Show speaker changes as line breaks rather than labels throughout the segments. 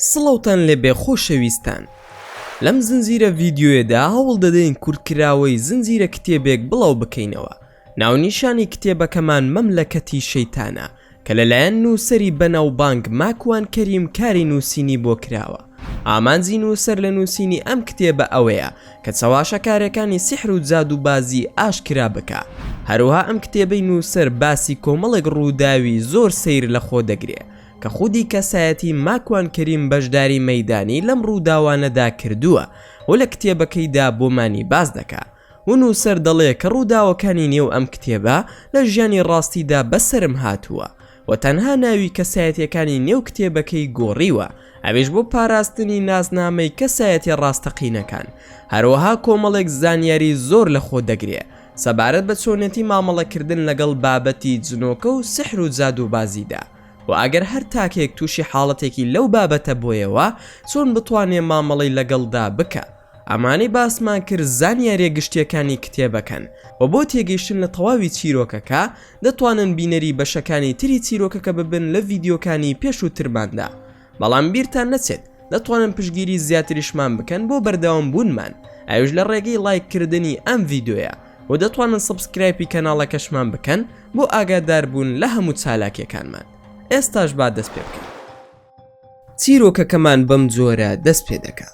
سڵاوتان لێبێ خۆشەویستان لەم زنجیرە ڤیدیۆیەدا هەوڵ دەدەین کورتکراوەی زنجیرە کتێبێک بڵاو بکەینەوە ناونیشانی کتێبەکەمان مەملەکەتی شەیتانە کە لەلایەن نووسەری بەناوبانگ ماکوان کەریم کاری نووسینی بۆ کراوە. ئامانجی نووسەر لە نووسینی ئەم کتێبە ئەوەیە کە چەواشەکارێکانی سیحر و جادووبازی ئاشکرا بکا. هەروەها ئەم کتێبەی نووسەر باسی کۆمەڵێک ڕووداوی زۆر سەیر لە خۆ دەگرێ کە خودی کەسایەتی ماکوان کەریم بەشداری مەیدانی لەم ڕووداوانەدا کردووە و لە کتێبەکەیدا بۆمانی باس دەکا. و نووسەر دەڵێ کە ڕووداوەکانی نێو ئەم کتێبە لە ژیانی ڕاستیدا بەسەرم هاتووە و تەنها ناوی کەسایەتییەکانی نێو کتێبەکەی گۆڕیوە ئەویش بۆ پاراستنی ناسنامەی کەسایەتیە ڕاستەقینەکان هەروەها کۆمەڵێک زانیاری زۆر لە خۆ دەگرێ سەبارەت بە چۆنێتی مامەڵەکردن لەگەڵ بابەتی جنۆکە و سحر و جادووبازیدا و ئەگەر هەر تاکێک تووشی حاڵەتێکی لەو بابەتە بۆیەوە چۆن بتوانێ مامەڵەی لەگەڵدا بکا. ئەمانەی باسمان کرد زانیاریە گشتیەکانی کتێبەکەن وە بۆ تێگەیشتن لە تەواوی چیرۆکەکە دەتوانن بینەری بەشەکانی تری چیرۆکەکە ببن لە ڤیدیۆکانی پێشووترماندا بەڵام بیرتان نەچێت دەتوانن پشگیری زیاتریشمان بکەن بۆ بەردەوام بوونمان ئەوش لە ڕێگەی ڵایک کردنی ئەم ڤیدۆیە و دەتوانن سبسکرایپی کەناڵەکەشمان بکەن بۆ ئاگاداربوون لە هەموو چالاکیەکانمان ئێستاش با دەست پێ بکەن. چیرۆکەکەمان بەم جۆرە دەست پێ دەکا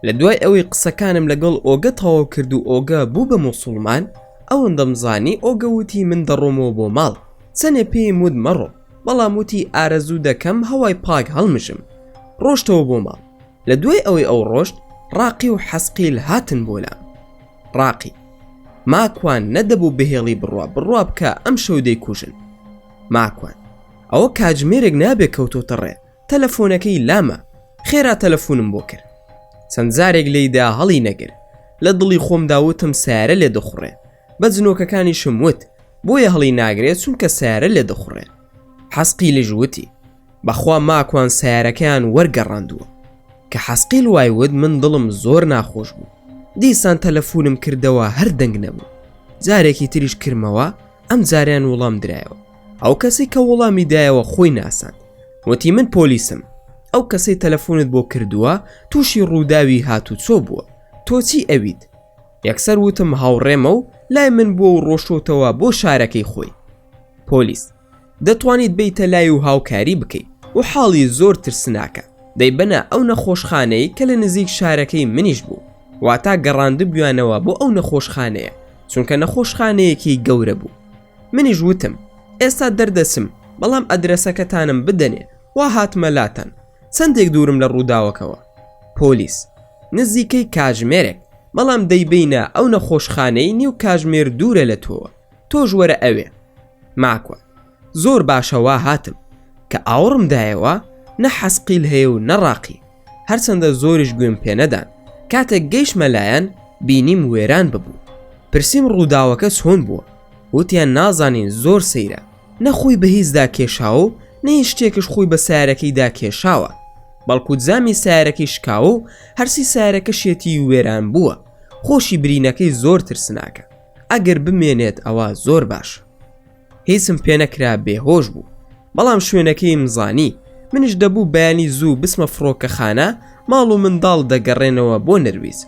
لە دوای ئەوەی قسەکانم لەگەڵ ئۆگە تەواو کرد و ئۆگە بوو بە موسڵمان ئەوەندەم زانی ئۆگە وتی من دەڕۆمەوە بۆ ماڵ چەنێ پێیم وت مەڕۆ بەڵام وتی ئارەزوو دەکەم هەوای پاک هەڵمژم ڕۆشتەوە بۆ ماڵ لە دوای ئەوەی ئەو ڕۆشت ڕاقی و حەسقیل هاتن بۆ لام ڕاقی ماکوان نەدەبوو بهێڵی بڕوا بڕوا بکە ئەم شەو دەیکوژن ماکوان ئەوە کاتژمێرێک نابێ کەوتۆتە ڕێ تەلەفۆنەکەی لامە خێرا تەلەفونم بۆ کرد چەند جارێک لێیدا هەڵی نەگر لە دڵی خۆم داوتم سارە لێ دەخوڕێ بە جنۆکەکانیشم وت بۆیە هەڵی ناگرێت چونکە سارە لێ دەخوڕێ حەسقی لژوتی بەخوا ماکوان سیارەکەیان وەرگەڕاندووە کە حەسقیل وای وت من دڵم زۆر ناخۆش بوو دیسان تەلەفونم کردەوە هەر دەنگ نەبوو جارێکی تریش کرمەوە ئەم جاریان وڵام درایەوە ئەو کەسی کە وەڵامی دایەوە خۆی ناساند وتی من پۆلیسم ئەو کەسەی تەلەفۆنت بۆ کردووە تووشی ڕووداوی هاتوچۆ بووە تۆچی ئەویت یەکسەر وتم هاوڕێمە و لای من بووە و ڕۆشتۆتەوە بۆ شارەکەی خۆی پۆلیس دەتوانیت بیتە لای و هاوکاری بکەیت و حاڵی زۆر ترسناکە دەیبەنە ئەو نەخۆشخانەی کە لە نزیک شارەکەی منیش بوو واتا گەڕاندبیانەوە بۆ ئەو نەخۆشخانەیە چونکە نەخۆشخانەیەکی گەورە بوو منیش وتم ئێستا دەردەچم بەڵام ئەدرەسەکەتانم بدەنێ وا هاتمە لاتان چەندێک دوورم لە ڕووداوەکەوە پۆلیس نزیکەی کاژمێرێک بەڵام دەیبینە ئەو نەخۆشخانەی نیو کاژمێر دوورە لە تۆوە تۆش وەرە ئەوێ ماکوە زۆر باشەوا هاتم کە ئاوڕم دایەوە نە حەسقیل هەیە و نەڕاقی هەرچەندە زۆریش گوێم پێنەدان کاتێک گەیشمە لایەن بینیم وێران ببوو پرسیم ڕووداوەکە چۆن بووە وتیان نازانین زۆر سەیرە نەخۆی بە هیچدا کێشاوە و نەی شتێکش خۆی بە سارەکەیدا کێشاوە بەڵکو جامی سارەکەی شکاوە و هەرسی سارەکە شێتی وێران بووە خۆشی برینەکەی زۆر ترسناکە ئەگەر بمێنێت ئەوە زۆر باشە هیچم پێنەکرا بێهۆش بوو بەڵام شوێنەکەیم زانی منش دەبوو بەیانی زوو بسمە فڕۆکەخانە ماڵ و منداڵ دەگەڕێنەوە بۆ نەرویز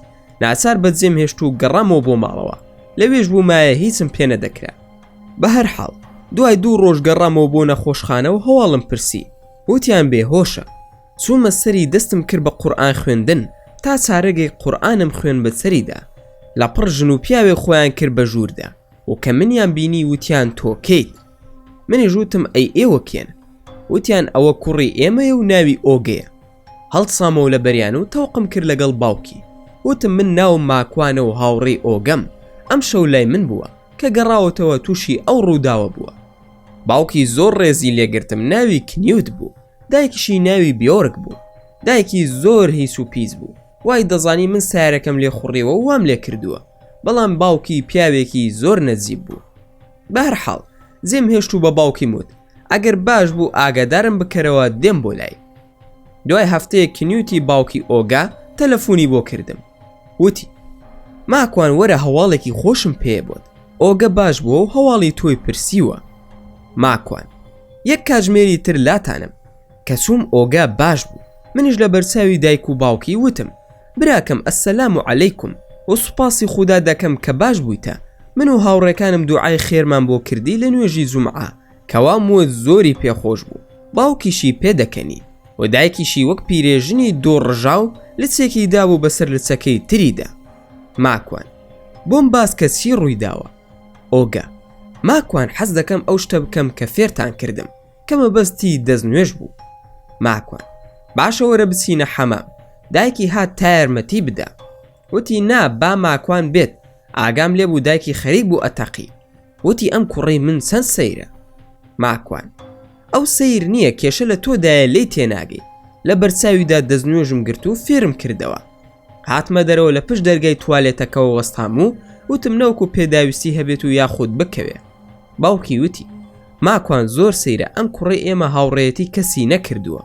ناچار بەجێم هێشت و گەڕامەوە بۆ ماڵەوە لەوێش بوو مایە هیچم پێ نەدەکرا بە هەر حاڵ دوای دوو ڕۆژ گەڕامەوە بۆ نەخۆشخانە و هەواڵم پرسی وتیان بێ هۆشە چوومە سەری دەستم کرد بە قورآان خوێندن تا چارەگەی قورآانم خوێن بە سەریدا لە پڕ ژن و پیاوێ خۆیان کرد بە ژووردا و کە منیان بینی وتیان تۆ کەیت منیش وتم ئەی ئێوە کێن وتیان ئەوە کوڕی ئێمەیە و ناوی ئۆگەیە هەڵسامەوە لە بەریان و تەوقم کرد لەگەڵ باوکی وتم من ناوم ماکوانە و هاوڕێی ئۆگەم ئەم شەو لای من بووە کە گەڕاوەتەوە تووشی ئەو ڕووداوە بووە باوکی زۆر ڕێزی لێگرتم ناوی کنیوت بوو دایکیشی ناوی بیۆرک بوو دایکی زۆر هیچ و پیس بوو وای دەزانی من سارەکەم لێ خوڕیوە و وام لێ کردووە بەڵام باوکی پیاوێکی زۆر نەجیب بوو بەهر حاڵ زێم هێشت و بە باوکی موت ئەگەر باش بوو ئاگادارم بکەرەوە دێم بۆ لای دوای هەفتەیە کنیوتی باوکی ئۆگا تەلەفۆنی بۆ کردم وتی ماکوان وەرە هەواڵێکی خۆشم پێ بۆت ئۆگە باش بووە و هەواڵی تۆی پرسیوە ماکوان یەک کاژمێری تر لاتانم کە چووم ئۆگا باش بوو منیش لە بەرچاوی دایک و باوکی وتم براکەم السلام علیکم و سوپاسی خودا دەکەم کە باش بوویتە من و هاوڕێکانم دوعای خێرمان بۆ کردی لە نوێژی جومعە کە وام وت زۆری پێ خۆش بوو باوکیشی پێ دەکەنی و دایکیشی وەک پیرێژنی دوو ڕژاو لچێکی دابوو بەسەر لچەکەی تریدا ماکوان بۆم باس کە چی ڕووی داوە ئۆگە ماکوان حەز دەکەم ئەو شتە بکەم کە فێرتان کردم کە مەبەستی دەست نوێژ بوو ماکوان باشە وەرە بچینە حەمام دایکی هات تا یارمەتی بدا وتی نا با ماکوان بێت ئاگام لێ بوو دایکی خەریک بوو ئەتەقی وتی ئەم کوڕی من چەند سەیرە ماکوان ئەو سیر نییە کێشە لە تۆدایە لی تێناگەی لە بەرچاویدا دەستنوێژم گرت و فێرم کردەوە هاتمە دەرەوە لە پشت دەرگای توالێتەکەەوە وەستام و وتم نەوەکو پێداویستی هەبێت و یاخود بکەوێ باوکی وتی ماکوان زۆر سەیرە ئەم کوڕی ئێمە هاوڕێەتی کەسی نەکردووە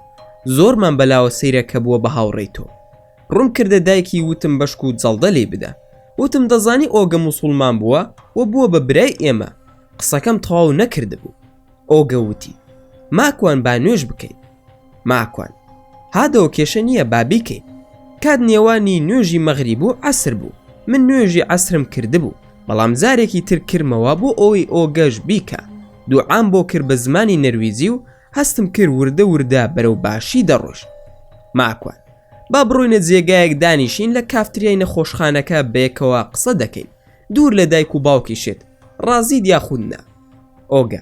زۆرمان بەلاوە سەیرە کە بووە بە هاوڕێی تۆ ڕوون کردە دایکی وتم بەشک و جەڵدە لی بدە وتم دەزانی ئۆگە موسڵمان بووە و بووە بە برای ئێمە قسەکەم تەواو نەکردبوو ئۆگە وتی ماکوان با نوێش بکەیت ماکوان، هادەوە کێشە نییە با بیکەین. کات نێوانی نوێژی مەغریب و عەسر بوو، من نوێژی عەسرم کردبوو، بەڵام جارێکی تر کرمەوە بۆ ئەوەی ئۆگەش بیکا. دوعام بۆ کرد بە زمانی نەرویجی و هەستم کرد وردە وردە بەرەو باشی دەڕۆیشت. ماکوان، با بڕۆینە جێگایەک دانیشین لە کافتریای نەخۆشخانەکە بەیەکەوە قسە دەکەین، دوور لە دایک و باوکیشت، ڕازیت یاخود نا. ئۆگە.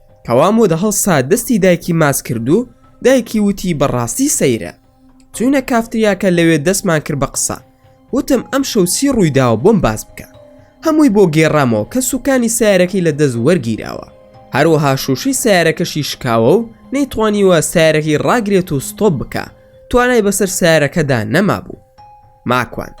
کەوا مۆدە هەڵسا دەستی دایکی ماچ کرد و دایکی وتی بەڕاستی سەیرە چوینە کافتریاکە لەوێ دەستمان کرد بە قسە وتم ئەم شەوچی ڕوویداوە بۆم باس بکە هەمووی بۆ گێڕامەوە کە سوکانی سیارەکەی لە دەست وەرگیراوە هەروەها شوشی سیارەکەشی شکاوە و نەیتوانیوە سیارەکەی ڕاگرێت و ستۆپ بکە توانای بەسەر سیارەکەدا نەمابوو ماکوان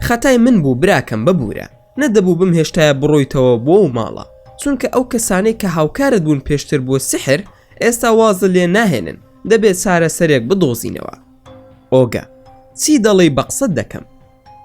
خەتای من بوو براکەم ببوورە نەدەبوو بمهێشتایە بڕۆیتەوە بۆ ئەو ماڵە چونکە ئەو کەسانەی کە هاوکارت بوون پێشتر بۆ سحر ئێستا وازت لێ ناهێنن دەبێت چارەسەرێک بدۆزینەوە ئۆگە چی دەڵێی بە قسەت دەکەم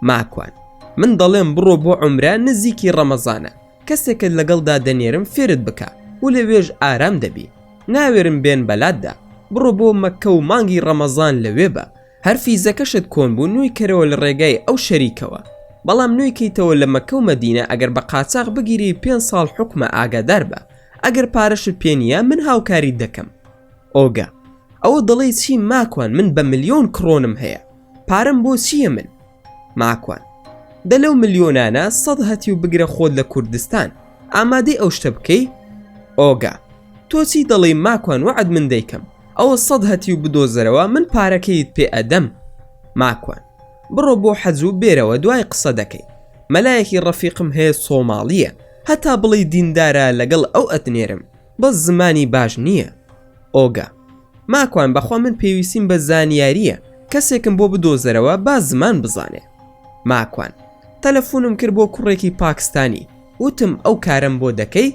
ماکوان من دەڵێم بڕۆ بۆ عمرە نزیکی ڕەمەزانە کەسێکت لەگەڵدا دەنێرم فێرت بکە و لەوێژ ئارام دەبی ناوێرم بێن بەلاتدا بڕۆ بۆ مەکە و مانگی ڕەمەزان لەوێ بە هەر فیزەکەشت کۆن بوو نوی کەرەوە لە ڕێگای ئەو شەریکەوە بەڵام نوی کەیتەوە لە مەکە و مەدینە ئەگەر بە قاچاغ بگیری پێنج ساڵ حوکمە ئاگادار بە ئەگەر پارەشت پێ نییە من هاوکاریت دەکەم ئۆگە ئەوە دەڵێی چی ماکوان من بە ملیۆن کڕۆنم هەیە پارەم بۆ چییە من ماکوان دە لەو ملیۆنانە سەد هەتی و بگرە خۆت لە کوردستان ئامادەی ئەو شتە بکەی ئۆگا تۆ چی دەڵێی ماکوان وەعد من دەیکەم ئەوە سەد هەتی و بدۆزەرەوە من پارەکەیت پێ ئەدەم ماکوان بڕۆ بۆ حەجوو بێرەوە دوای قسە دەکەین مەلایەکی ڕەفیقم هەیە سۆماڵیە هەتا بڵێی دیندارە لەگەڵ ئەو ئەتنێرم بەس زمانی باش نیە ئۆگا. ماکوان بەخوا من پێویستیم بە زانیاریە کەسێکم بۆ بدۆزەرەوە با زمان بزانێ ماکوان تەلەفونم کرد بۆ کوڕێکی پاکستانی وتم ئەو کارەم بۆ دەکەی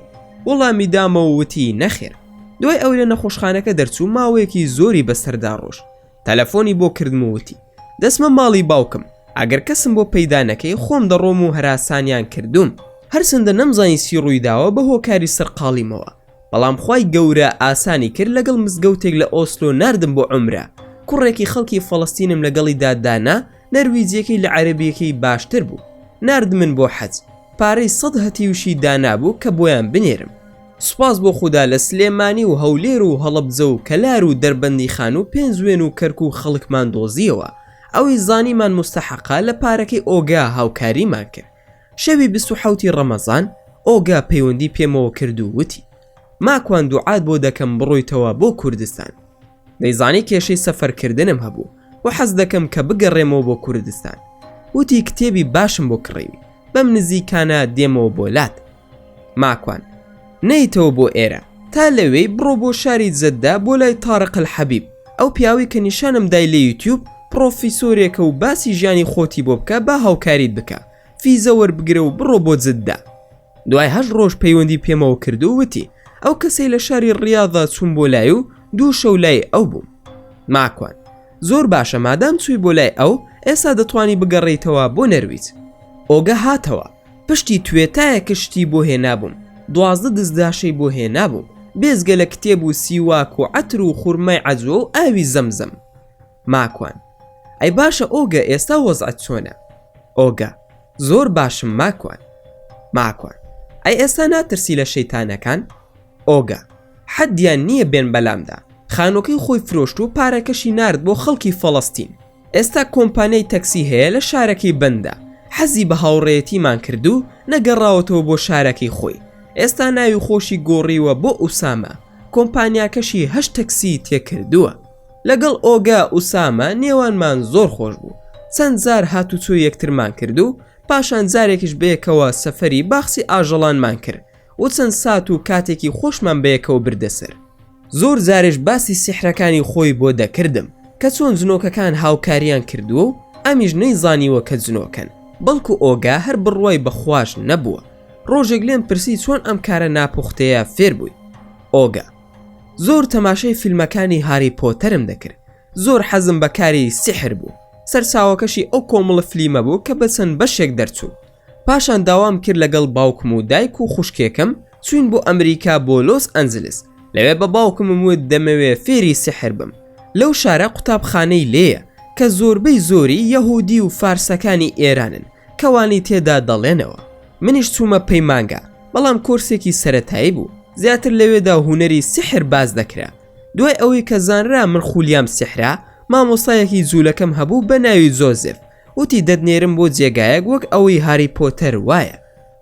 وڵامی دامەوە وتی نەخێر دوای ئەوەی لە نەخۆشخانەکە دەرچوو ماوەیەکی زۆری بەسەردا ڕۆشت تەلەفۆنی بۆ کردم و وتی دەچمە ماڵی باوکم ئەگەر کەسم بۆ پەیدا نەکەی خۆم دەڕۆم و هەراسانیان کردووم هەرچەندە نەمزانی چی ڕوویداوە بە هۆکاری سەرقاڵیمەوە بەڵام خوای گەورە ئاسانی کرد لەگەڵ مزگەوتێک لە ئۆسلۆ ناردم بۆ عەمرە کوڕێکی خەڵکی فەڵەستینم لەگەڵیدا دانا نەرویجیەکەی لە عەرەبیەکەی باشتر بوو ناردمن بۆ حەج پارەی سەد هەتیوشی دانابوو کە بۆیان بنێرم سوپاس بۆ خودا لە سلێمانی و هەولێر و هەڵەبجە و کەلار و دەربەندیخان و پێنجوێن و کەرکوک خەڵکمان دۆزیەوە ئەوەی زانیمان موستەحەقە لە پارەکەی ئۆگا هاوکاریمان کرد شەوی بیست و حەوت ی ڕەمەزان ئۆگا پەیوەندی پێمەوە کرد و وتی ماکوان دوعات بۆ دەکەم بڕۆیتەوە بۆ کوردستان دەیزانی کێشەی سەفەرکردنم هەبوو و حەز دەکەم کە بگەڕێمەوە بۆ کوردستان. وتی کتێبی باشم بۆ کڕیوی، بەم نزیکانە دێمەوە بۆ لات. ماکوان، نەیتەوە بۆ ئێرە، تا لەوێی بڕۆ بۆ شاری جەددە بۆ لای تارق الحبیب، ئەو پیاوەی کە نیشانم دای لە یوتیوب، پڕۆفیسۆرێکە و باسی ژیانی خۆتی بۆ بکە با هاوکاریت بکا، فیزە وەربگرە و بڕۆ بۆ جددە. دوای هەشت ڕۆژ پەیوەندی پێمەوە کرد و وتی ئەو کەسەی لە شاری ڕاضا چوون بۆ لای و دوو شەو لای ئەو بووم ماکوان زۆر باشە مادام چووی بۆ لای ئەو ئێستا دەتوانی بگەڕیتەوە بۆ نەرویج ئۆگە هاتەوە پشتی توێتایە کە شتی بۆ هێنابووم دوازدە دزداشەی بۆ هێنابووم بێزگە لە کتێب و سیواک و عەتر و خورمای عەجوە و ئاوی زەمزەم ماکوان، ئەی باشە ئۆگە ئێستا وەزعت چۆنە؟ ئۆگە، زۆر باشم ماکوان. ماکوان، ئەی ئێستا ناترسی لە شەیتانەکان؟ ئۆگە، حەدیان نییە بێن بەلامدا. خانووەکەی خۆی فرۆشت و پارەکەشی نارد بۆ خەڵکی فەڵەستین. ئێستا کۆمپانیای تەکسی هەیە لە شارەکەی بەندە. حەزی بە هاوڕێیەتیمان کرد و نەگەڕاوەتەوە بۆ شارەکەی خۆی. ئێستا ناوی خۆشی گۆڕیوە بۆ ئوسامە، کۆمپانیاکەشی هەشت تەکسیی تێ کردووە. لەگەڵ ئۆگا ئوسامە نێوانمان زۆر خۆش بوو چەند زار هاتوچۆ یەکترمان کرد و پاشان جارێکیش بەیەکەوە سەفەری باخچی ئاژەڵانمان کرد و چەند سات و کاتێکی خۆشمان بەیەکەوە بردە سەر زۆر جاریش باسی سیحرەکانی خۆی بۆ دەکردم کە چۆن جنۆکەکان هاوکاریان کردووە و ئەمیش نەیزانیوە کە جنۆکەن بەڵکو ئۆگا هەر بڕوای بە خواش نەبووە ڕۆژێک لێم پرسی چۆن ئەم کارە ناپوختەیە فێر بووی ئۆگا زۆر تەماشای فیلمەکانی هاری پۆتەرم دەکرد زۆر حەزم بە کاری سیحر بوو سەرچاوەکەشی ئەو کۆمەڵە فلیمە بوو کە بە چەند بەشێک دەرچوو پاشان داوام کرد لەگەڵ باوکم و دایک و خوشکێکم چوین بۆ ئەمریکا بۆ لۆس ئەنجلس لەوێ بە باوکمم وت دەمەوێ فێری سحر بم لەو شارە قوتابخانەی لێیە کە زۆربەی زۆری یەهودی و فارسەکانی ئێرانن کەوانی تێدا دەڵێنەوە منیش چوومە پەیمانگا بەڵام کۆرسێکی سەتایی بوو زیاتر لەوێدا هوەری سحر باز دەکرا دوای ئەوەی کە زانرا من خولیام سحرا مامۆسایەکی جوولەکەم هەبوو بە ناوی زۆزف وتی دەدنێرم بۆ جێگایەک وەک ئەوەی هاری پۆتەر وایە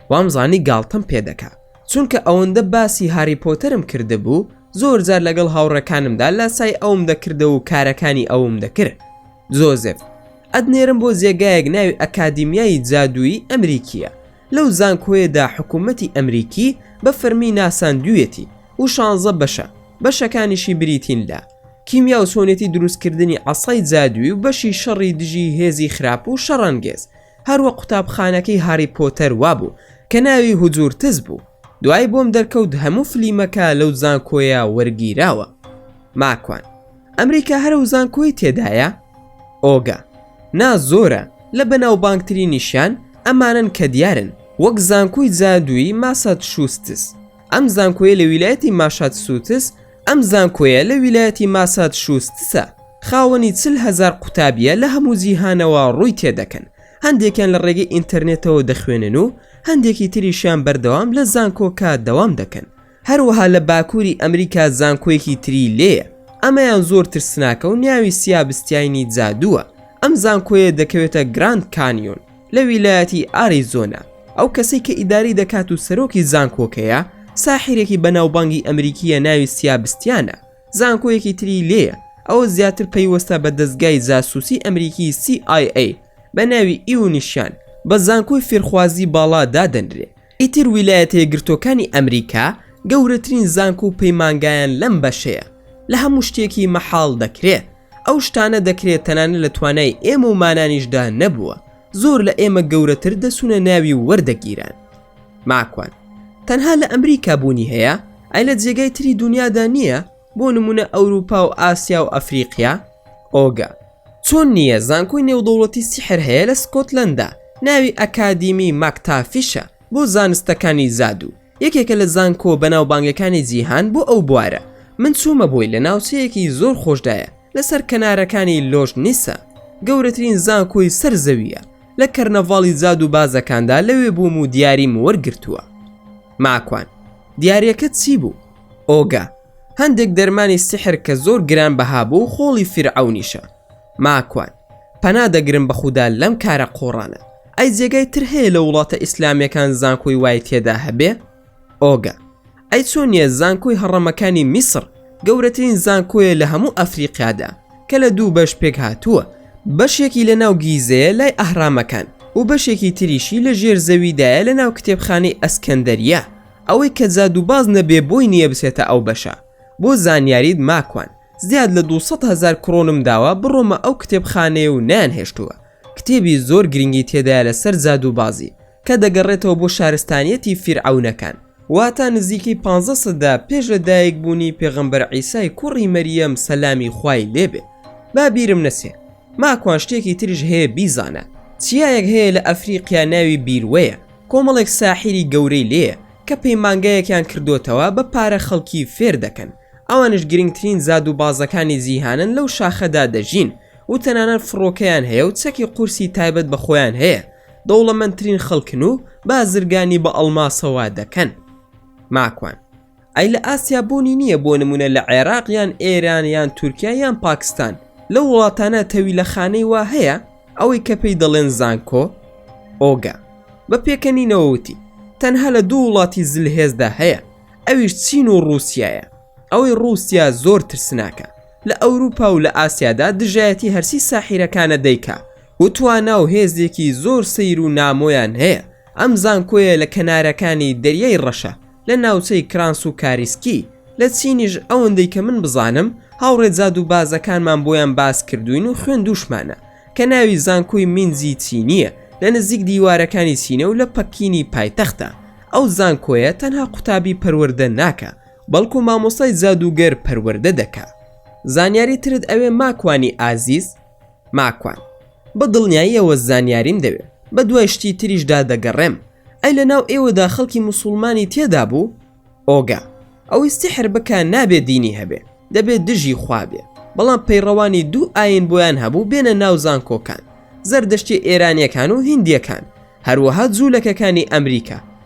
وامزانی گاڵتەم پێدەکا چونکە ئەوەندە باسی هاری پۆتەرم کردبوو زۆر جار لەگەڵ هاوڕەکانمدا لاسای ئەوم دەکردە و کارەکانی ئەوم دەکرد زۆزف ئەدنێرم بۆ جێگایەک ناوی ئەکادیمیایی جادووی ئەمریکیە لەو زانکۆیەدا حکوومەتی ئەمریکی بە فەرمی ناساندوویەتی و شانزە بەشە، بەشەکانیشی بریتین لە، کیمیا و چۆنێتی دروستکردنی عەسای جادووی و بەشی شەڕی دژی هێزی خراپ و شەڕەنگێز، هەروەک قوتابخانەکەی هاری پۆتەر وابوو کە ناوی هوجورتز بوو، دوای بۆم دەرکەوت هەموو فلیمەکە لەو زانکۆیە وەرگیراوە. ماکوان. ئەمریکا هەرە و زانکۆی تێدایە ئۆگا نا زۆرە لە بەناوبانگترینیشیان ئەمانن کە دیارن وەک زانکۆی جادووی ماسات شوستس ئەم زانکۆیە لە ویلایەتی ماشات سووتس ئەم زانکۆیە لە ویلایەتی ماسات شوستسە خاوەنی چل هزار قوتابیە لە هەموو جیهانەوە ڕووی تێدەکەن هەندێکیان لە ڕێگەی ئینتەرنێتەوە دەخوێنن و هەندێکی تریشیان بەردەوام لە زانکۆکە دەوام دەکەن هەروەها لە باکووری ئەمریکا زانکۆیەکی تری لێیە ئەمەیان زۆر ترسناکە و ناوی سیابستیاینی جادووە ئەم زانکۆیە دەکەوێتە گراند کانیۆن لە ویلایەتی ئاریزۆنا ئەو کەسەی کە ئیدارەی دەکات و سەرۆکی زانکۆکەیە ساحیرێکی بەناوبانگی ئەمریکییە ناوی سیابستیانە زانکۆیەکی تری لێیە ئەوە زیاتر پەیوەستە بە دەزگای جاسوسی ئەمریکی CIA بە ناوی ئیونیشیان بە زانکۆی فێرخوازی باڵا دادەنرێ ئیتر ویلایەتەیەکگرتووەکانی ئەمریکا گەورەترین زانکۆ و پەیمانگایان لەم بەشەیە، لە هەموو شتێکی مەحاڵ دەکرێ. ئەو شتانە دەکرێ تەنانەت لە توانای ئێمە و مانانیشدا نەبووە، زۆر لە ئێمە گەورەتر دەچوونە ناوی و وەردەگیران. ماکوان، تەنها لە ئەمریکا بوونی هەیە؟ ئەی لە جێگای تری دونیادا نییە، بۆ نموونە ئەوروپا و ئاسیا و ئەفریقیا؟ ئۆگا، چۆن نییە زانکۆی نێودەوڵەتی سیحر هەیە لە سکۆتلەندا ناوی ئەکادیمی ماکتافیشە بۆ زانستەکانی زادو یەکێکە لە زانکۆ بەناوبانگەکانی جیهان بۆ ئەو بوارە من چوومە بۆی لە ناوچەیەکی زۆر خۆشدایە لەسەر کەنارەکانی لۆژ نیسە گەورەترین زانکۆی سەر زەوییە لە کەرنەڤاڵی جادو بازەکاندا لەوێ بووم و دیاریم وەرگرتووە. ماکوان. دیاریەکەت چی بوو؟ ئۆگا. هەندێک دەرمانی سحر کە زۆر گران بەها بوو خۆڵی فیرعەونیشە ماکوان پەنا دەگرم بەخودا لەم کارە قۆڕانە ئەی جێگای تر هەیە لە وڵاتە ئیسلامیەکان زانکۆی وای تێدا هەبێ ئۆگە ئەی چۆن نیە زانکۆی هەڕەمەکانی میسر گەورەترین زانکۆیە لە هەموو ئەفریقیادا کە لە دوو بەش پێک هاتووە بەشێکی لە ناو گیزەیە لای ئەهرامەکان و بەشێکی تریشی لە ژێر زەویدایە لە ناو کتێبخانەی ئەسکەندەریە ئەوەی کە جادووباز نەبێ بۆی نییە بچێتە ئەو بەشە. بۆ زانیاریت ماکوان زیاد لە دوو سەد هەزار کڕۆنم داوە بڕۆمە ئەو کتێبخانەیە و نەیانهێشتووە. کتێبی زۆر گرنگی تێدایە لەسەر جادووبازی کە دەگەڕێتەوە بۆ شارستانیەتی فیرعەونەکان واتە نزیکەی پانزە سەدە پێش لە دایک بوونی پێغەمبەر عیسای کوڕی مەریەم سەلامی خوای لێ بێ با بیرم نەچێ. ماکوان شتێکی تریش هەیە بیزانە. چیایەک هەیە لە ئەفریقیا ناوی بیروەیە. کۆمەڵێک ساحیری گەورەی لێیە کە پەیمانگایەکیان کردۆتەوە بە پارە خەڵکی فێر دەکەن ئەوانیش گرنگترین زادو بازەکانی جیهانن لەو شاخەدا دەژین و تەنانەت فڕۆکەیان هەیە و چەکی قورسی تایبەت بە خۆیان هەیە دەوڵەمەندترین خەڵکن و بازرگانی بە ئەڵماسەوە دەکەن ماکوان. ئەی لە ئاسیا بوونی نییە بۆ نمونە لە عێراق یان ئێران یان تورکیا یان پاکستان لە وڵاتانە تەوی لە خانەی وا هەیە ئەوەی کە پێی دەڵێن زانکۆ ئۆگا بە پێکەنینەوەوتی تەنها لە دوو وڵاتی زلهێزدا هەیە ئەویش چین و رووسایە ئەوەی رووسیا زۆر ترسناکە لە ئەوروپا و لە ئاسیادا دژایەتی هەرسی ساحیرەکانە دەیکا و توانا و هێزێکی زۆر سیر و نامۆیان هەیە ئەم زانکۆیە لە کەنارەکانی دەریای ڕەشە لە ناوچەی کرانس و کاریسکی لە چینیش ئەوەندەی کە من بزانم هاوڕێ جاد و بازەکانمان بۆیان باس کردوین و خوێندوشمانە کە ناوی زانکۆی مینزی چینیە لە نزیک دیوارەکانی چینە و لە پەکینی پایتەختە ئەو زانکۆیە تەنها قوتابی پەروەردە ناکا بەڵکو مامۆستای جادووگەر پەروەردە دەکا زانیاری ترت ئەوێ ماکوانی ئازیز؟ ماکوان بە دڵنیاییەوە زانیاریم دەوێ بە دوای شتی تریشدا دەگەڕێم ئەی لە ناو ئێوەدا خەڵکی مسلمانی تێدا بوو ئۆگا ئەوەی سحر بکە نابێ دینی هەبێ دەبێت دژی خوابێ بەڵام پەیڕەوانی دوو ئاین بۆیان هەبوو بێنە ناو زانکۆکان زەردەشتی ئێرانیەکان و هندیەکان هەروەها جوولەکەکانی ئەمریکا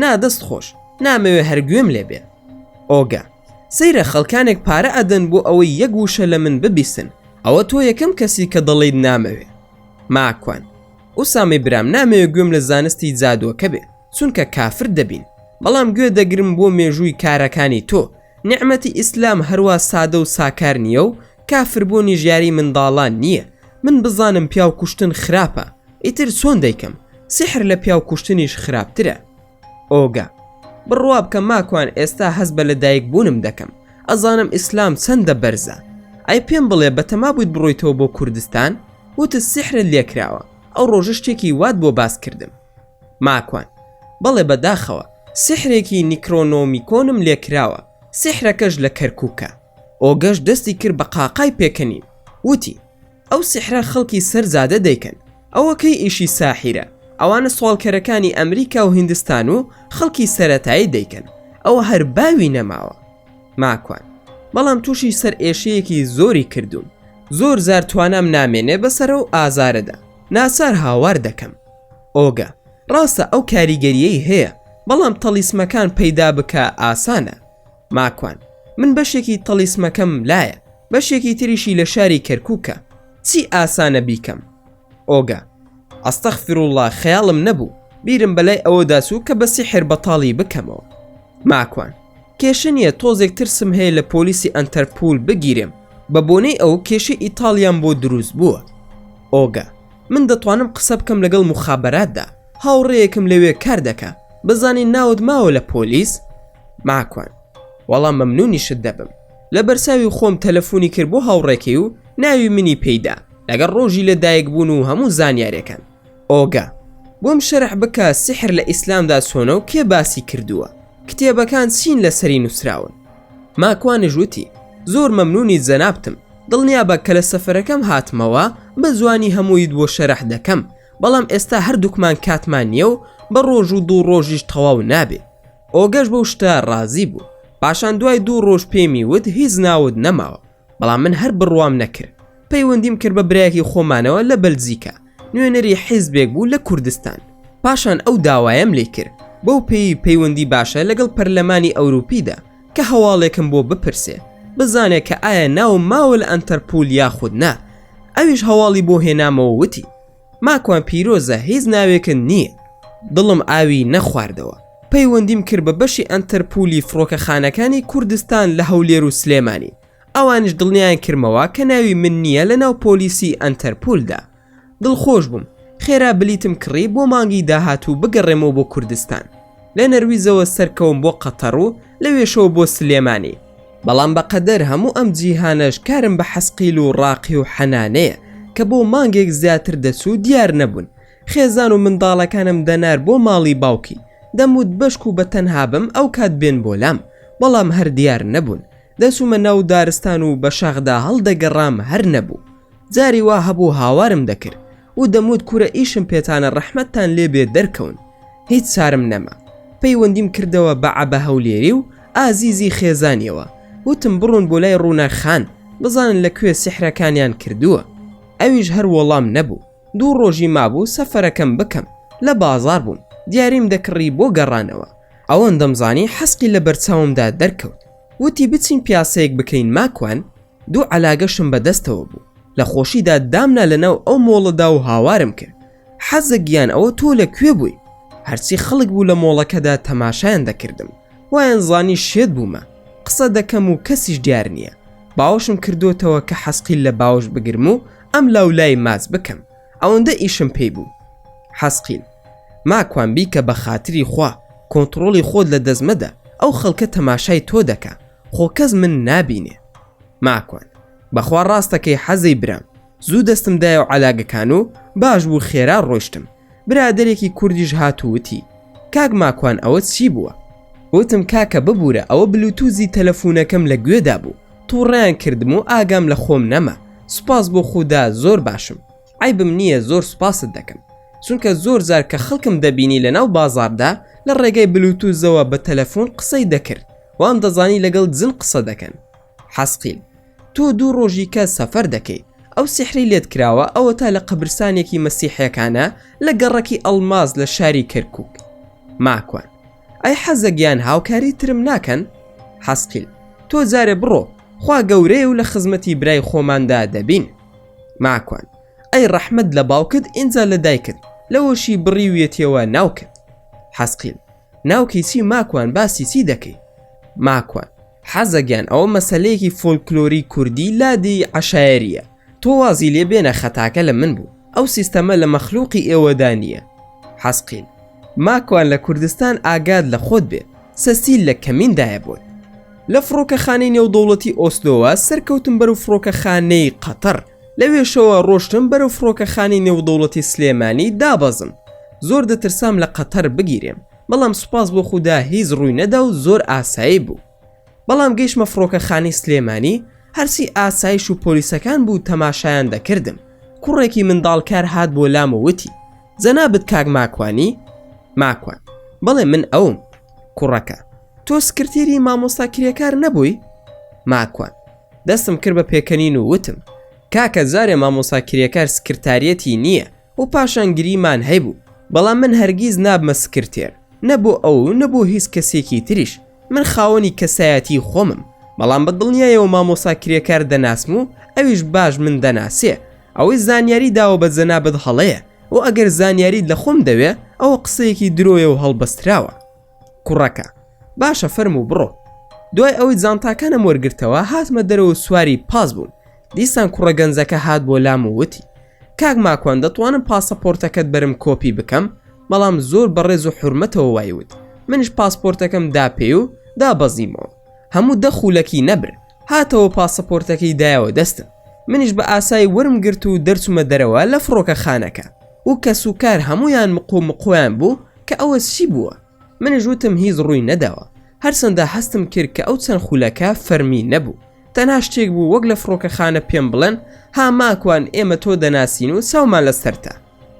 نا دەست خۆش نامەوێ هەر گوێم لێ بێ ئۆگە سەیرە خەڵکانێک پارە ئەدەن بۆ ئەوەی یەک وشە لە من ببیستن ئەوە تۆ یەکەم کەسی کە دەڵیت نامەوێ ماکوان ئوسامی برام نامەوێ گوێم لە زانستی جادووەکە بێ چونکە کافر دەبین بەڵام گوێ دەگرم بۆ مێژووی کارەکانی تۆ نعمەتی ئیسلام هەروە سادە و ساکار نییە و کافربوونی ژیاری منداڵان نییە من بزانم پیاو کوشتن خراپە ئیتر چۆن دەیکەم سیحر لە پیاو کوشتنیش خراپترە ئۆگا بڕوابکە ماکوان ئێستا هەست بە لە دایک بوونم دەکەم ئەزانم ئیسلام چەندە بەرزە ئەی پێم بڵێ بەتەما بوویت بڕۆیتەوە بۆ کوردستان وتت سیحرت لێکراوە ئەو ڕۆژە شتێکی وات بۆ باس کردم ماکوان بەڵێ بەداخەوە سیحرێکی نیکرۆنۆمیکۆنم لێکراوە سیحرەکەش لە کەرکووکە ئۆگەش دەستی کرد بە قاقای پێکەنین وتی ئەو سیحرە خەڵکی سەر زادە دەیکەن ئەوە کەی ئیشی ساحیرە ئەوانە سواڵکەرەکانی ئەمریکا و هندستان و خەڵکی سەرەتایی دەیکەن ئەوە هەر باوی نەماوە ماکوان بەڵام تووشی سەر ئێشەیەکی زۆری کردوون زۆر زار توانام نامێنێ بەسەرە و ئازارەدا ناچار هاوار دەکەم ئۆگە ڕاستە ئەو کاریگەریەی هەیە بەڵام تەلیسمەکان پەیدا بکە ئاسانە ماکوان، من بەشێکی تەڵیسمەکەم لایە، بەشێکی تریشی لە شاری کەرکووکە، چی ئاسانە بیکەم؟ ئۆگا، ئەستەغفروڵڵا خەیاڵم نەبوو، بیرم بە لای ئەوەدا چوو کە بە سیحر بەتاڵی بکەمەوە. ماکوان، کێشە نییە، تۆزێک ترسم هەیە لە پۆلیسی ئەنتەرپوول بگیرێم، بە بۆنەی ئەو کێشەی ئیتاڵیام بۆ دروست بووە. ئۆگا، من دەتوانم قسە بکەم لەگەڵ موخابەراتدا، هاوڕێیەکم لەوێ کار دەکا، بزانین ناوت ماوە لە پۆلیس؟ ماکوان، وەڵا مەمنونیشت دەبم. لە بەرچاوی خۆم تەلەفونی کرد بۆ هاوڕێکەی و ناوی منی پێی دا لەگەڵ ڕۆژی لە دایک بوون و هەموو زانیارێکان. ئۆگا، بۆم شەرح بکە سیحر لە ئیسلامدا چۆنە و کێ باسی کردووە؟ کتێبەکان چین لەسەری نووسراون؟ ماکوانیش وتی، زۆر مەمنونی جەنابتم، دڵنیابە کە لە سەفەرەکەم هاتمەوە بە جوانی هەموویت بۆ شەرح دەکەم، بەڵام ئێستا هەردووکمان کاتمان نیە و بە ڕۆژ و دوو ڕۆژیش تەواو نابێ. ئۆگەش بەو شتە ڕازی بوو پاشان دوای دوو ڕۆژ پێمی وت هیچ ناوت نەماوە بەڵام من هەر بڕوام نەکرد پەیوەندیم کرد بە برایەکی خۆمانەوە لە بەلجیکا نوێنەری حیزبێک بوو لە کوردستان پاشان ئەو داوایم لێ کرد بەو پێی پەیوەندی باشە لەگەڵ پەرلەمانی ئەوروپیدا کە هەواڵێکم بۆ بپرسێ بزانێ کە ئایا ناو ماوە لە ئەنتەرپول یاخود نا ئەویش هەواڵی بۆ هێنامەوە وتی ماکوان پیرۆزە هیچ ناوێکن نییە دڵم ئاوی نەخواردەوە پەیوەندیم کرد بە بەشی ئەنتەرپولی فڕۆکەخانەکانی کوردستان لە هەولێر و سلێمانی ئەوانیش دڵنیایان کردمەوە کە ناوی من نییە لە ناو پۆلیسی ئەنتەرپولدا دڵخۆش بووم خێرا بلیتم کڕی بۆ مانگی داهاتوو بگەڕێمەوە بۆ کوردستان لە نەرویزەوە سەرکەوم بۆ قەتەڕ و لەوێشەوە بۆ سلێمانی. بەڵام بە قەدەر هەموو ئەم جیهانەش کارم بە حەسقیل و ڕاقی و حەنانەیە کە بۆ مانگێک زیاتر دەچوو دیار نەبوون. خێزان و منداڵەکانم دەنار بۆ ماڵی باوکی. دەموت بەشک و بەتەنها بم ئەو کات بێن بۆ لام. بەڵام هەر دیار نەبوون. دەچوومە ناو دارستان و بە شاخدا هەڵدەگەڕام هەر نەبوو. جاری وا هەبوو هاوارم دەکرد. و دەموت کورە ئیشم پێتانە ڕەحمەتتان لێ بێ دەرکەون هیچ چارم نەما پەیوەندیم کردەوە بە عەبە هەولێری و ئازیزی خێزانیەوە وتم بڕون بۆ لای ڕووناک خان بزانن لە کوێ سیحرەکانیان کردووە ئەویش هەر وەڵام نەبوو دوو ڕۆژی مابوو سەفەرەکەم بکەم لە بازاڕ بووم دیاریم دەکڕی بۆ گەڕانەوە ئەوەندەم زانی حەسقی لە بەرچاومدا دەرکەوت وتی بچین پیاسەیەک بکەین ماکوان دوو عەلاگەشم بە دەستەوە بوو لە خۆشیدا دامنا لە ناو ئەو مۆڵەدا و هاوارم کرد حەزە گیان ئەوە تۆ لە کوێ بووی هەرچی خەڵک بوو لە مۆڵەکەدا تەماشایان دەکردم وایان زانی شێت بوومە قسە دەکەم و کەسیش دیار نییە باوشم کردوتەوە کە حەسقیل لە باوش بگرم و ئەم لاولای ماچ بکەم ئەوەندە ئیشم پێی بوو حەسقیل ماکوان بیکە بە خاتری خوا کۆنتترۆڵی خۆت لە دەزمەدە ئەو خەڵکە تەماشای تۆ دەکە خۆ کەس من نابینێ. ماکوان، بەخوا ڕاستەکەی حەزەی برام، زوو دەستم دایەو عەلاگەکان و باش بوو خێرا ڕۆشتم، برادەرێکی کوردیش هات و وتی، کاک ماکوان ئەوە چی بووە؟ وتم کاکە ببورە ئەوە بلوتوزی تەلەفونەکەم لە گوێدا بوو توڕەیان کردم و ئاگام لە خۆم نەما، سوپاس بۆ خودا زۆر باشم، عەیبم نییە زۆر سوپاست دەکەم، چونکە زۆر جار کە خەڵکم دەبینی لەناو بازاڕدا لە ڕێگای بلوتوزەوە بە تەلەفون قسەی دەکرد، وام دەزانی لەگەڵ جن قسە دەکەن حەسقیل تۆ دوو ڕۆژی کە سەفەر دەکەیت ئەو سیحری لێت کراوە ئەوە تا لە قەبرسانێکی مەسیحەکانە لە گەڕەکی ئەڵماز لە شاری کەرکک ماکوان ئەی حەزەگیان هاوکاری ترم ناکەن حەسقیل تۆ جارێ بڕۆ خوا گەورەیە و لە خزمەتی برای خۆماندا دەبین ماکوان ئەی ڕەحمد لە باوکت ئینجا لە دایکت لەوەشی بڕیویەتیەوە ناوکت حەسقیل ناوکی چی ماکوان باسی چی دەکەی ماکوان حەزەگیان ئەوە مەسلەیەکی فۆلکلۆری کوردی لادی عشایریە تۆ وازی لێ بێنە خەتاکە لە من بوو ئەو سیستەمە لە مەخلوقی ئێوەدا نییە حەزقیل ماکوان لە کوردستان ئاگاد لە خۆت بێ سەسیل لە کەمیندایە بۆت لە فڕۆکەخانەی نێودەوڵەتی ئۆسلۆوە سەرکەوتم بەرو فڕۆکەخانەی قەتەر لەوێشەوە ڕۆشتم بەرەو فڕۆکەخانەی نێودەوڵەتی سلێمانی دابەزم زۆر دەترسام لە قەتەر بگیرێم بەڵام سوپاس بۆ خودا هیچ ڕووی نەدا و زۆر ئاسایی بوو بەڵام گەیشتمە فڕۆکەخانەی سلێمانی هەرچی ئاسایش و پۆلیسەکان بوو تەماشایان دەکردم کوڕێکی منداڵکار هات بۆ لام و وتی جەنابت کاک ماکوانی ماکوان بەڵێ من ئەوم کوڕەکە تۆ سکرتێری مامۆستا کرێکار نەبووی ماکوان دەستم کرد بە پێکەنین و وتم، کاکە جارێ مامۆسا کرێکار سکرتاریەتی نییە و پاشان گریمان هەیبوو، بەڵام من هەرگیز نابمە سکرتێر، نە بۆ ئەو و نە بۆ هیچ کەسێکی تریش، من خاوەنی کەسایەتیی خۆمم، بەڵام بە دڵنیایەوە مامۆسا کرێکار دەناسم و ئەویش باش من دەناسێ، ئەوەی زانیاری داوە بە جەنابت هەڵەیە و ئەگەر زانیاریت لە خۆم دەوێ، ئەوە قسەیەکی درۆیە و هەڵبەستراوە. کوڕەکە باشە فەرموو بڕۆ دوای ئەوەی جانتاکانم وەرگرتەوە هاتمە دەرەوە سواری پاس بووم دیسان کوڕە گەنجەکە هات بۆ لام و وتی کاک ماکوان دەتوانم پاسەپۆرتەکەت بەرم کۆپی بکەم بەڵام زۆر بەڕێز و حرمەتەوە وایوت منش پاسپۆرتەکەم داپێ و دابەزیمەوە هەموو دەخولەکی نەبر هاتەوە پاسەپۆرتەکەی دایەوە دەستم منیش بە ئاسای ورم گرت و دەرچوومە دەرەوە لە فڕۆکە خانەکە و کەس و کار هەموویان مق و مقۆیان بوو کە ئەوە چی بووە؟ منیش وتم هیچ ڕووی نەداوە، هەرچەندە هەستم کرد کە ئەو چەند خولەکە فەرمی نەبوو، تەنها شتێک بوو وەک لە فڕۆکەخانە پێم بڵێن ها ماکوان ئێمە تۆ دەناسین و چاومان لەسەرتە،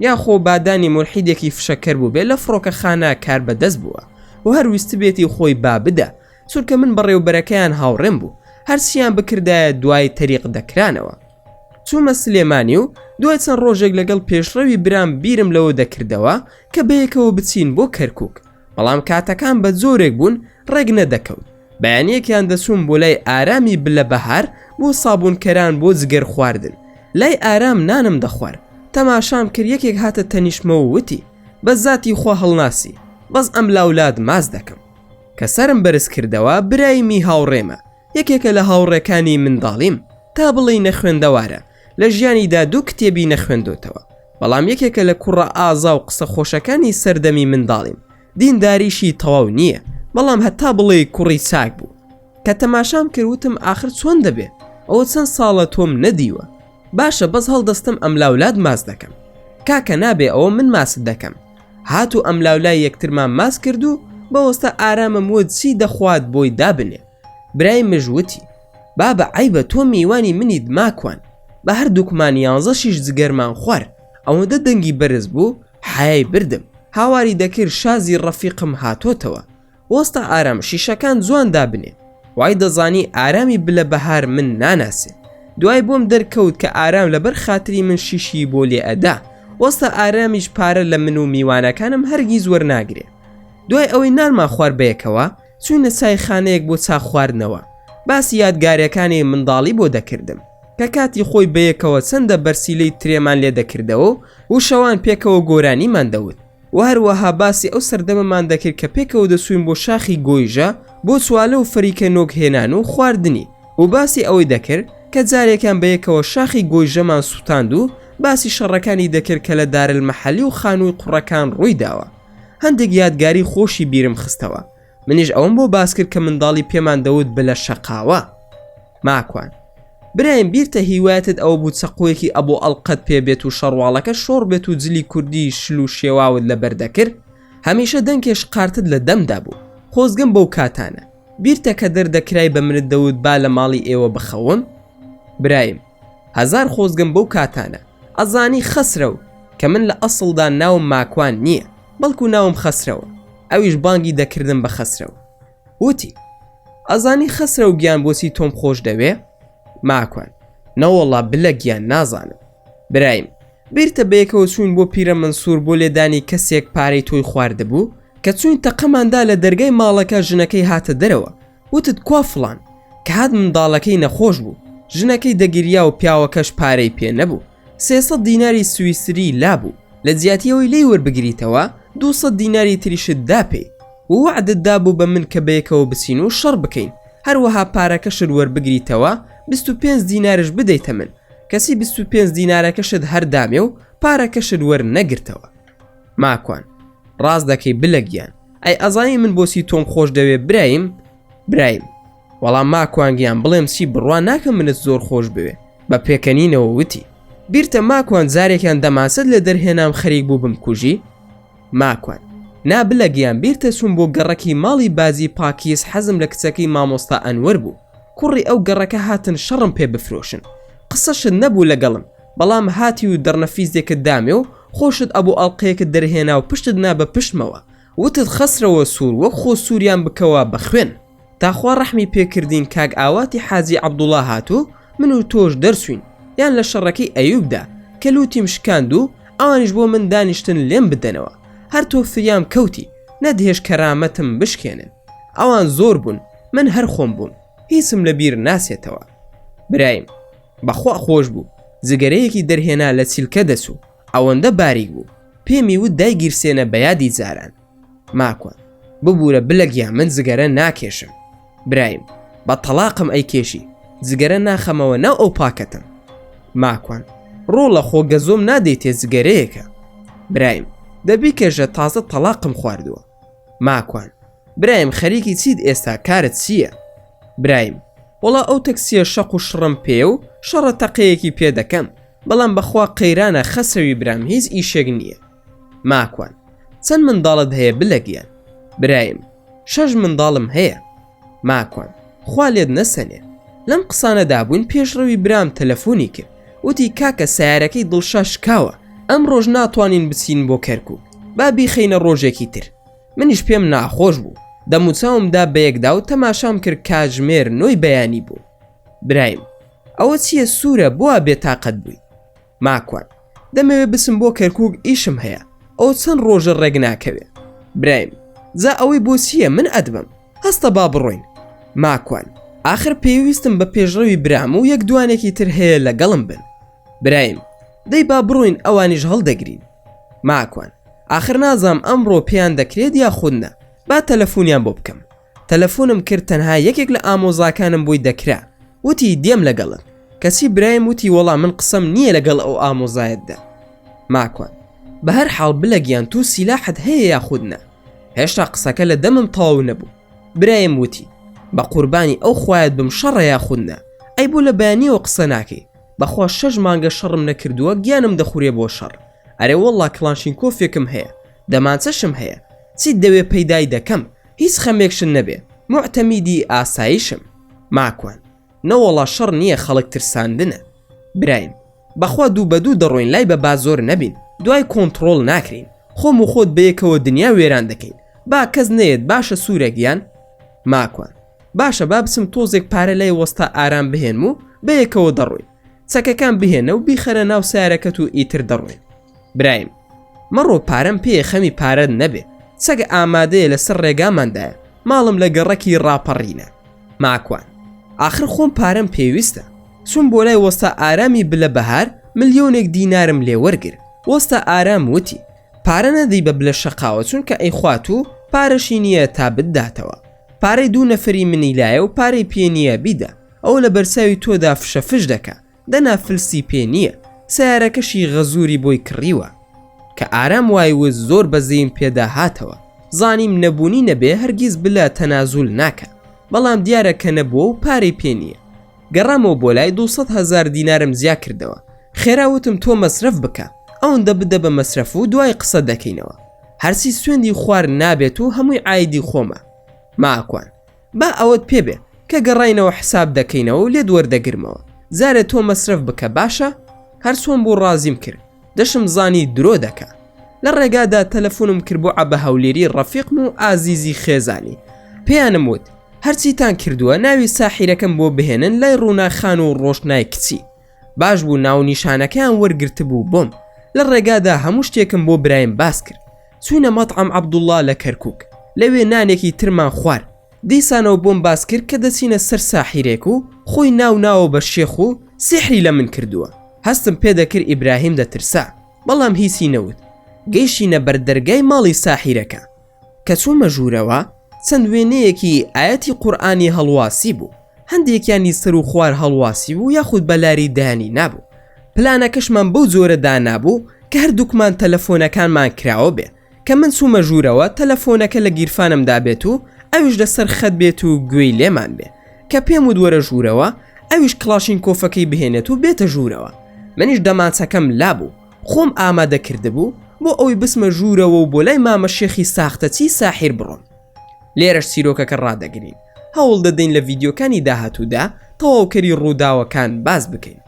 یا خۆ بادانی مولحیدێکی فشەکەر بووبێ لە فڕۆکەخانە کاربەدەست بووە و هەر ویستبێتی خۆی با بدە، چونکە من بەڕێوبەرەکەیان هاوڕێم بوو، هەرچییان بکردایە دوای تەریق دەکرانەوە. چوومە سلێمانی و دوای چەند ڕۆژێک لەگەڵ پێشڕەوی برام بیرم لەوە دەکردەوە کە بەیەکەوە بچین بۆ کەرکک بەڵام کاتەکان بە جۆرێک بوون ڕێک نەدەکەوت بەیانەکیان دەچوون بۆ لای ئارامی بلە بەهار بۆ سابونکەران بۆ جگەر خواردن لای ئارام نانم دەخوارد تەماشام کرد یەکێک هاتە تەنیشمەوە وتی بە زاتی خوا هەڵناسی بەس ئەم لاولاد ماس دەکەم کە سرم بەرز کردەوە برایمی هاوڕێمە یەکێکە لە هاوڕێکانی منداڵیم، تا بڵێی نەخوێندەوارە، لە ژیانیدا دوو کتێبی نەخوێندۆتەوە، بەڵام یەکێکە لە کوڕە ئازا و قسە خۆشەکانی سەردەمی منداڵیم، دینداریشی تەواو نییە، بەڵام هەتا بڵێی کوڕی چاک بوو. کە تەماشام کرد وتم ئاخر چۆن دەبێ، ئەوە چەند ساڵە تۆم نەدیوە، باشە بەس هەڵدەستم ئەملاولات ماچ دەکەم، کاکە نابێ ئەوە من ماچت دەکەم، هات و ئەملاولای یەکترمان ماچ کرد و بەوەستە ئارامم وت چی دەخوات بۆی دابنێ. برای مژ وتی بابە عەیبە تۆ میوانی منیت ماکوان بە هەردووکمان یانزە شیش جگەرمان خوارد ئەوەندە دەنگی بەرز بوو حەیای بردم هاواری دەکرد شازی ڕەفیقم هاتۆتەوە وەستا ئارام شیشەکان جوان دابنێ وای دەزانی ئارامی بلە بەهار من ناناسێ دوای بۆم دەرکەوت کە ئارام لەبەر خاتری من شیشی بۆ لێ ئەدا وەستا ئارامیش پارە لە من و میوانەکانم هەرگیز وەرناگرێ دوای ئەوەی نانمان خوار بەیەکەوە چووینە چایخانەیەک بۆ چا خواردنەوە، باسی یادگارەکانی منداڵی بۆ دەکردم، کە کاتی خۆی بەیەکەوە چەندە بەرسیلەی ترێمان لێ دەکردەوە و شەوان پێکەوە گۆرانیمان دەوت و هەروەها باسی ئەو سەردەمەمان دەکرد کە پێکەوە دەچووین بۆ شاخی گۆیژە بۆ چوالە و فریکە نۆک هێنان و خواردنی و باسی ئەوەی دەکرد کە جارێکیان بەیەکەوە شاخی گۆیژەمان سووتاند و باسی شەڕەکانی دەکرد کە لە دارلمەحەلی و خانووی قوڕەکان ڕووی داوە. هەندێک یادگاری خۆشی بیرم خستەوە منیش ئەوم بۆ باس کرد کە منداڵی پێمان دەوت بلە شەقاوە ماکوان برایم بیرتە هیوایەتت ئەوە بوو چەقۆیەکی ئەبۆ ئەڵقەت پێ بێت و شەڕواڵەکە شۆڕ بێت و جلی کوردی شل و شێواوت لە بەردەکرد هەمیشە دەنکێش قارتت لە دەمدا بوو خۆزگەم بەو کاتانە بیرتە کە دەردەکرای بە منت دەوت با لە ماڵی ئێوە بخەوم برایم هەزار خۆزگەم بەو کاتانە ئەزانی خەسرەو کە من لە ئەسڵدا ناوم ماکوان نییە بەڵکو ناوم خەسرەوە ئەویش بانگی دەکردم بە خەسرەو وتی ئەزانی خەسرەو گیان بۆچی تۆم خۆش دەوێ ماکوان نەوەڵا بلە گیان نازانم برایم بیرتە بەیەکەوە چوین بۆ پیرە منسوور بۆ لێدانی کەسێک پارەی تۆی خواردبوو کە چوین تەقەماندا لە دەرگای ماڵەکە ژنەکەی هاتە دەرەوە وتت کوا فڵان؟ کە هات منداڵەکەی نەخۆش بوو ژنەکەی دەگریا و پیاوەکەش پارەی پێ نەبوو سێسە دیناری سویسری لابوو لە جیاتیەوەی لی وەربگریتەوە دووسە دیناری تریشت دا پێی ووەعدت دابوو بە من کە بەیەکەوە بچین و شەڕ بکەین هەروەها پارەکەشت وەربگریتەوە بیست و پێنج دینارش بدەیتە من کەچی بیست و پێنج دینارەکەشت هەردامێ و پارەکەشت وەرنەگرتەوە. ماکوان ڕاست دەکەی بلە گیان ئەی ئەزانی من بۆسی تۆم خۆش دەوێ برایم برایم وەڵام ماکوانگیان بڵێم چی بڕوا ناکەم منت زۆر خۆش بوێ بە پێکەنینەوە وتی بیرتە ماکوان جارێکیان دەماسەت لە دەرهێنام خەریک بوو بم کوژی ماکوان نابلە گیان بیرتە چوون بۆ گەڕەکی ماڵی بازی پاکیز حەزم لە کچەکەی مامۆستا ئەنوەر بوو کوڕی ئەو گەڕەکە هاتن شەڕم پێ بفرۆشن قسەشت نەبوو لەگەڵم بەڵام هاتی و دڕنەفیزێکت دامێ و خۆشت ئەبوو ئەڵقەیەکت دەرهێنا و پشتت نا بە پشتمەوە وتت خەسرەوە سوور وەک خۆ سووریان بکەوە بە خوێن تا خوا ڕەحمی پێ کردین کاک ئاواتی حاجی عەبدوڵا هات و من و تۆش دەرچووین یان لە شەڕەکەی ئەیووبدا کە لووتیم شکاند و ئەوانیش بۆ من دانیشتن لێم بدەنەوە هەر تۆ فریام کەوتی نەدهێشت کەرامەتم بشکێنن ئەوان زۆر بوون من هەر خۆم بووم هیچم لە بیر ناچێتەوە برایم. بەخوا خۆش بوو جگەرەیەکی دەرهێنا لە چیلکە دەچوو ئەوەندە باریک بوو پێمی وت دایگیرسێنە بە یادی جاران ماکوان ببورە بلە گیان من جگەرە ناکێشم برایم بە تەڵاقم ئەی کێشی جگەرە ناخەمەوە ناو ئەو پاکەتم ماکوان ڕۆڵە خۆ گەزۆم نادەیتێ جگەرەیەکە برایم دەبی کێشە تازە تەڵاقم خواردووە ماکوان برایم خەریکی چیت ئێستا کارت چییە؟ برایم وەڵا ئەو تەکسیە شەق و شڕم پێ و شەڕە تەقەیەکی پێ دەکەم بەڵام بەخوا قەیرانە خەسەوی برام هیچ ئیشێک نییە ماکوان چەند منداڵت هەیە بلە گیان برایم شەش منداڵم هەیە ماکوان خوا لێت نەسەنێ لەم قسانە دابووین پێشڕەوی برام تەلەفۆنی کرد وتی کاکە سیارەکەی دڵشا شکاوە ئەم ڕۆژ ناتوانین بچین بۆ کەرکک با بیخینە ڕۆژێکی تر منیش پێم ناخۆش بوو دەموچاومدا بەیەکدا و تەماشام کرد کاژمێر نۆی بەیانی بوو برایم ئەوە چییە سوورە بووە بێتاقەت بووی ماکوان دەمەوێ بچم بۆ کەرکوک ئیشم هەیە ئەو چەند ڕۆژە ڕێک ناکەوێ برایم جا ئەوەی بۆچییە من ئەدبم هەستە با بڕۆین ماکوان آخر پێویستم بە پێشڕەوی برام و یەک دوانێکی تر هەیە لەگەڵم بن برایم دەی با بڕۆین ئەوانیش هەڵدەگرین ماکوان آخر نازام ئەمڕۆ پێیان دەکرێت یا خودنا با تەلەفۆنیان بۆ بکەم تەلەفونم کرد تەنها یەکێک لە ئامۆزاکانم بۆی دەکرا وتی دێم لەگەڵت کەچی برایم وتی وەڵا من قسەم نییە لەگەڵ ئەو ئامۆزایەتدا ماکوان بە هەر حاڵ بلە گیان تو سیلاحت هەیە یاخودنا هێشتا قسەکە لە دەمم تەواو نەبوو برایم وتی بە قوربانی ئەو خوایەت بم شەڕە یاخودنا ئەی بۆ لە بەیانیەوە قسە ناکەی بەخوا شەش مانگە شەڕم نەکردووە گیانم دەخورێ بۆ شەڕ ئەرێ وەڵا کلانشین کۆفێکم هەیە دەمانچەشم هەیە چیت دەوێ پەیدای دەکەم هیچ خەمێکشن نەبێ موعتەمیدی ئاسایشم. ماکوان، نەوەڵا شەڕ نییە خەڵک ترساندنە. برایم، بەخوا دوو بە دوو دەڕۆین لای بە با زۆر نەبین دوای کۆنتڕۆڵ ناکرێین خۆم و خۆت بەیەکەوە دنیا وێران دەکەین با کەس نەیەت باشە سوورە گیان؟ ماکوان، باشە با بچم تۆزێک پارە لای وەستا ئارام بهێنم و بەیەکەوە دەڕۆین. چەکەکان بهێنە و بیخەرە ناو سەیارەکەت و ئیتر دەڕۆین. برایم مەڕۆ پارەم پێیە خەمی پارەت نەبێ سەگ ئامادەیە لەسەر ڕێگاماندایە ماڵم لە گەڕەکی ڕاپەڕینە ماکوان ئاخر خۆم پارەم پێویستە سوم بۆ لای وەستا ئارامی بلە بەهار ملیۆنێک دینارم لێ وەرگر وەستا ئارام وتی پارە نەدەی بە بلە شەقاوە چونکە ئەی خوات و پارەشی نییە تا بداتەوە پارەی دوو نەفری منی لایە و پارەی پێ نییە بیدە ئەو لە بەرچاوی تۆدا فشە فش دەکە دەنا فلسی پێ نیە سەیارەکەشی غەزوری بۆی کڕیوە کە ئارام وای وت زۆر بەزەیم پێدا هاتەوە زانیم نەبونی نەبێ هەرگیز بلە تەنازول ناکا بەڵام دیارە کە نەبوە و پارەی پێ نیە گەڕامەوە بۆ لای دوو سەد هەزار دینارم زیا کردەوە خێرا وتم تۆ مەسرەف بکە ئەوندە بدە بە مەسرەف و دوای قسە دەکەینەوە هەرچی سوێندی خوار نابێت و هەموی عایدی خۆمە ماکوان با ئەوەت پێ بێ کە گەڕاینەوە حساب دەکەینەوە و لێت وەردەگرمەوە جارێ تۆ مەسرەف بکە باشە هەر چۆن بوو ڕازیم کرد دەشم زانی درۆ دەکا لە ڕێگادا تەلەفۆنم کرد بۆ عەبە هەولێری ڕەفیقم و ئازیزی خێزانی پێیانم وت هەرچیتان کردووە ناوی ساحیرەکەم بۆ بهێنن لای ڕووناخان و ڕۆشنای کچی باش بوو ناو نیشانەکەیان وەرگرتبوو بۆم لە ڕێگادا هەموو شتێکم بۆ برایم باس کرد چوینە مەتعەم عەبدوڵا لە کەرکوک لەوێ نانێکی ترمان خوار دیسانەوە بۆم باس کرد کە دەچینە سەر ساحیرێک و خۆی ناو ناوە بە شێخ و سیحری لە من کردووە هەستم پێ دەکرد ئیبراهیم دەترسا بەڵام هیچی نەوت گەیشتینە بەر دەرگای ماڵی ساحیرەکە کە چومە ژورەوە چەند وێنەیەکی ئایەتی قورئانی هەڵواسیبوو، هەندێکیانی سەرو خوار هەڵواسیبوو یاخود بەلاری دایانی نابوو، پلانەکەشمان بەو جۆرە دانابوو کە هەردووکمان تەلەفۆنەکانمان کراوە بێ، کە من چوومە ژوورەوە تەلەفۆنەکە لە گیرفانمدا بێت و ئەویش لەسەر خەت بێت و گوێی لێمان بێ، کە پێم وت وەرە ژوورەوە ئەویش کڵاشینکۆفەکەی بهێنێت و بێتە ژوورەوە، منیش دەمانچەکەم لابوو، خۆم ئامادە کردبوو بۆ ئەوەی بچمە ژوورەوە و بۆ لای مامە شێخی ساختەچی ساحیر بڕۆم لێرەش چیرۆکەکە ڕادەگرین هەوڵ دەدەین لە ڤیددیوکانی داهاتوودا تەواوکەری ڕووداوەکان باز بکەین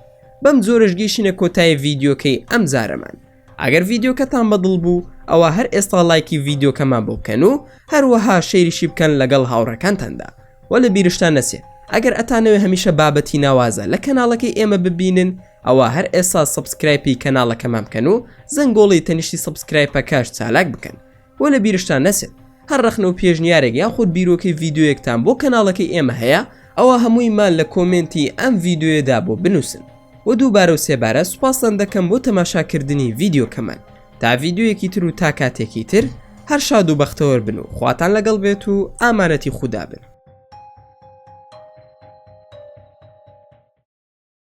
بەم جۆرەش گەیشتینە کۆتای ڤیددیوکەی ئەم جارەمان ئەگەر ڤیددیوکەتان بەدڵ بوو ئەوە هەر ئێستا لایکی ڤیددیوکەمان بۆ بکەن و هەروەها شەیریشی بکەن لەگەڵ هاوڕەکانتاندا وە لە بیرشتان نەچێت ئەگەر ئەتانەوێ هەمیشە بابەتی ناوازە لە کەناڵەکەی ئێمە ببینن ئەوا هەر ئێسا سەبسکرایپی کەناڵەکەمان بکەن و زەنگۆڵی تەنیشتی سەبسکرایپەکەش چالاک بکەن و لە بیرشتان نەچێت هەر ڕەخنە و پێشنیارێک یاخود بیرۆکەی ڤیددیوەکتان بۆ کەناڵەکەی ئێمە هەیە ئەوە هەموویمان لە کۆمنتی ئەم ڤیددیوێدا بۆ بنووسن و دووبارە و سێبارە سوپاستان دەکەم بۆ تەماشاکردنی ڤیددیوکەمان تا ڤیددیوەکی تر و تا کاتێکی تر هەر شاد و بەختەوەر بن و خواتان لەگەڵ بێت و ئامانەتی خوددا بن